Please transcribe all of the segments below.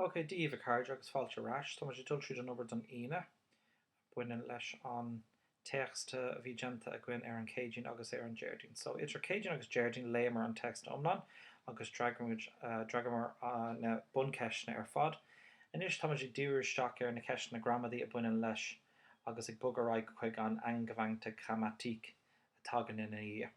Ok, dia dhaoibh a chairde agus fáilte ar ais. Táimid ag dul tríd an obair don Aoine a bhaineann leis an téacs a bhí déanta againn ar an Chéadaoin agus ar an Déardaoin. So, idir Céadaoin agus Déardaoin léamar an téacs iomlán agus d'fhreagamar na buncheisteanna ar fad. Anois táimid ag díriú isteach ar na ceisteanna gramadaí a bhaineann leis agus ag bogadh ar aghaidh chuig an angewandte Grammatik a thagann ina dhiaidh.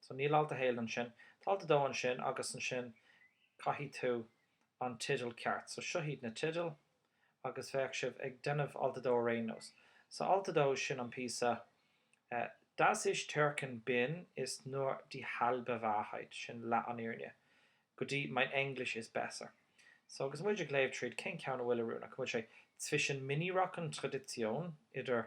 So níl alt a haon ansin. Tá alt a dó ansin agus ansin caithfidh tú an teideal ceart. So seo iad na teidil agus beidh sibh ag déanamh alt a dó ar aon nós. So alt a dó sin an píosa eh, Dass ich Türkin bin ist nur die halbe Wahrheit, sin leath an fhírinne, go dtí Mein Englisch ist besser. So agus muid ag léamh tríd cén ceann a bhfuil oiriúnach? An bhfuil sé zwischen Minirock und Tradition, idir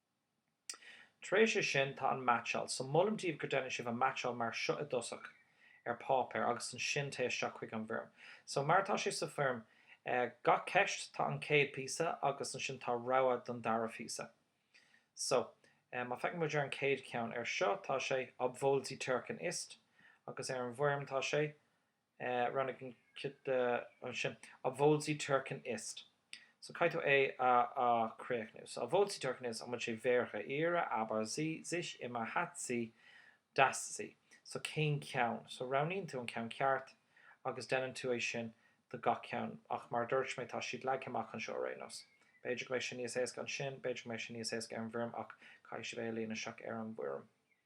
Tar éis sin tá an meaitseáil, so molaim daoibh go ndéanann sibh an meaitseáil mar seo i dtosach ar páipéar agus ansin téigh isteach chuig an bhfoirm. So mar atá sé sa foirm, gach ceist tá an chéad phíosa agus ansin tá rogha don dara phíosa. So má féachann muid ar an chéad cheann, ar seo tá sé, obwohl sie Türkin ist? agus ar an bhfoirm tá sé, Roghnaigh an ceist ansin. A Bhóilsí Turcan Ist. So caithfear é a chríochnú. So obwohl sie Türkin ist, an bhfuil sé wer auch ihre, aber sie, sie ist immer, hat sie, dass sie. So cén ceann? So roghnaíonn tú an ceann ceart agus déanann tú é sin do gach ceann. Ach mar a dúirt mé, tá siad leagtha amach anseo ar aon nós. B'fhéidir go mbeidh sé níos éasca ansin, b'fhéidir go mbeidh sé níos éasca ar an bhfoirm ach caithfidh sibh é a líonadh isteach ar an bhfoirm.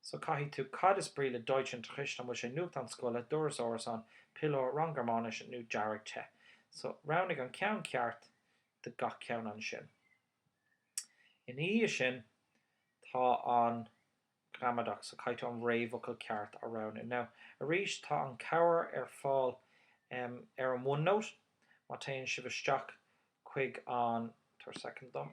So caithfidh tú cad is brí le Deutschunterricht, an bhfuil sé nuachtán scoile, doras árasán, piliúr, rang Gearmáinise nó dearg te. So roghnaigh an ceann ceart de gach ceann ansin. Ina dhiaidh sin tá an ghramadach so caithfidh tú an réamhfhocal ceart a roghnú. Now arís tá an cabhair ar fáil ar an OneNote má téann sibh isteach chuig an, tabhair second dom,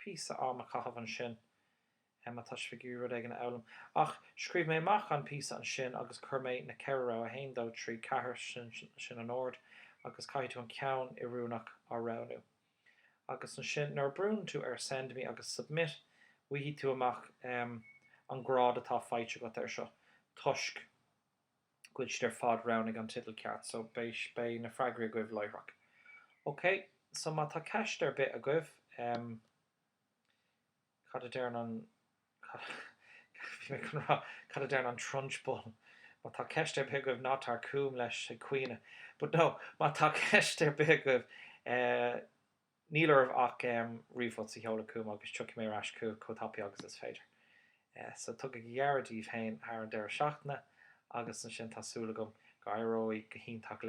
píosa am a chaitheamh ansin. Em, má tá sibh ag iarraidh rud éigin a fhoghlaim. Ach scríobh mé amach an píosa ansin agus chuir mé na ceithre rogha, a haon, a dó, a trí, a ceathair, sin, sin an ord agus caithfidh tú an ceann oiriúnach a roghnú. Agus ansin nuair a brúnn tú ar Send Me agus Submit, faighidh tú amach, em, an grád atá faighte agat air seo toisc, Gur iad ar fad, roghnaigh an teideal ceart, so beidh, beidh na freagraí agaibh láithreach. Ok, so má tá ceist ar bith agaibh, em, cad a deireann an, cad, bhí mé chun rá, cad a deireann an Trunchbull? Má tá ceist ar bith agaibh, ná tar chugam leis ag caoineadh. But no, má tá ceist ar bith agaibh, eh, Níl oraibh ach ríomhphost a sheoladh chugam agus tiocfaidh mé ar ais chugat chomh tapaidh agus is féidir. So, tugaigí aire daoibh féin thar an deireadh seachtaine agus ansin tá súil agam go éireoidh go hiontach libh.